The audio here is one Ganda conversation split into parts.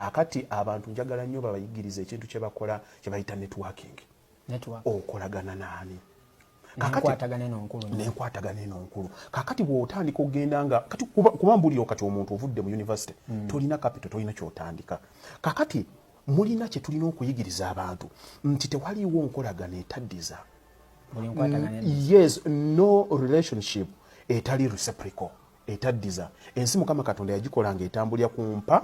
akati abantu njagala nnyo babayigiriza ekintu kye bakola kye bayita networking okolagana naani nenkwatagana eno nkulu kakati bwotandika okugenda nga kati kuba mbuliro kati omuntu ovudde mu university mm. tolina kapito tolina kyotandika kakati mulina kyetulina okuyigiriza abantu nti tewaliwo nkolagana etaddiza yes no relationship etali reciprocal etaddiza ensi mukama katonda yagikola nga etambulira ku mpa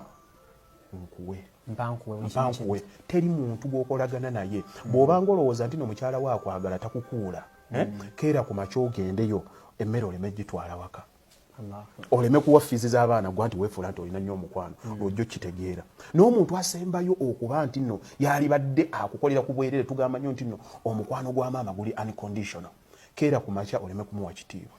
nkuwe mpankuwe teri muntu gwokolagana naye mm. bwobanga olowooza nti no mukyala wo akwagala takukuula eh? mm. keera ku makya ogendeyo emmere oleme gitwala waka oleme kuwa fiizi z'abaana gwa nti weefuula nti olina nnyo omukwano mm. lwojja okitegeera n'omuntu asembayo okuba nti nno yaalibadde akukolera ku bwerere tugamba nnyo nti nno omukwano gwa maama guli unconditional keera ku makya oleme kumuwa kitiibwa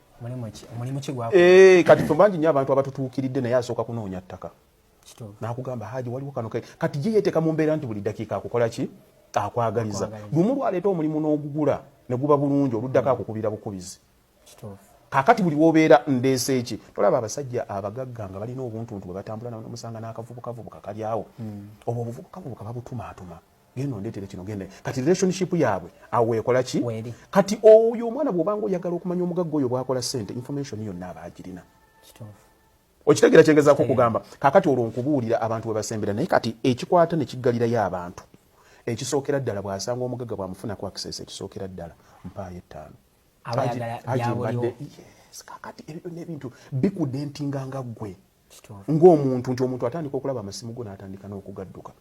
eh, kati fe bangi nyo abantu abatutuukiridde naye asooka kunoonya ttaka nakugamba haji waliwo kano kati ye yeteeka mu mbeera nti buli dakiika akukola ki akwagaliza lumu lwaleeta omulimu n'ogugula ne guba bulungi oluddako hmm. akukubira bukubizi kakati buli wobeera ndeese eki tolaba abasajja abagagga nga balina obuntuntu bwe batambula nomusanga n'akavubukavubuka kalyawo hmm. obwo obuvubukavubuka babutumaatuma genda ondeetere kino genda kati relationship yaabwe awo ekola ki kati oyo omwana bw'obanga oyagala okumanya omugagga oyo bw'akola ssente information yonna aba agirina okitegeera kyengezaako okugamba kaakati olwo nkubuulira abantu bwe basembera naye kati ekikwata ne kiggalirayo abantu ekisookera ddala bw'asanga omugagga bw'amufuna ku access ekisookera ddala mpaayo ettaano kakati ebyo byonna ebintu bikudentinga nga ggwe ng'omuntu nti omuntu atandika okulaba amasimu go n'atandika n'okugadduka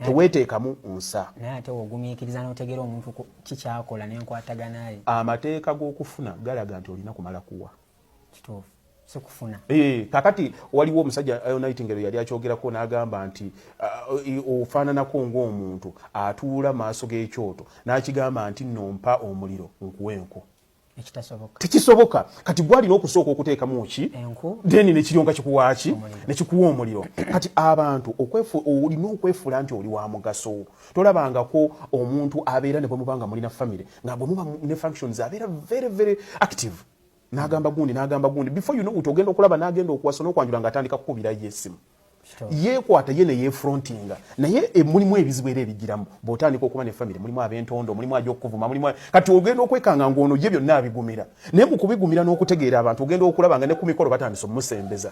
teweteekamu nsa naye ate ogumiikiriza n'otegeera omuntu kikyakola nenkwataganaye amateeka g'okufuna galaga nti olina kumala kuwa kituufu sikufuna ee eh, kakati waliwo omusajja eh, nightingale yali akyogerako n'agamba nti uh, ofaananako ng'omuntu atuula maaso g'ekyoto n'akigamba nti nompa omuliro nkuwa enku tekisoboka kati gwalina okusooka okuteekamu ki deni nekiryoka kikuwaaki nekikuwa omuliro kati abantu olina okwefuula nti oli wa mugaso tolabangako omuntu abeera ne bwemubanga mulina famire nga bwe muba ne functions abeera very very active n'agamba gundi n'agamba gundi before you know ogenda okulaba n'agenda okuwasa n'okwanjula ng'atandika kukubirayo esimu yekwata ye neyefrontinga naye e, mulimu ebizibu era ebigiramu bwotandika okuba nefamiry mulimu abentondo mulimu aja okukuvuma mulimu kati ogenda okwekanga ngaono ye byonna abigumira naye mukubigumira n'okutegeera abantu ogenda okulaba nga ne ku mikolo batandisa omusembeza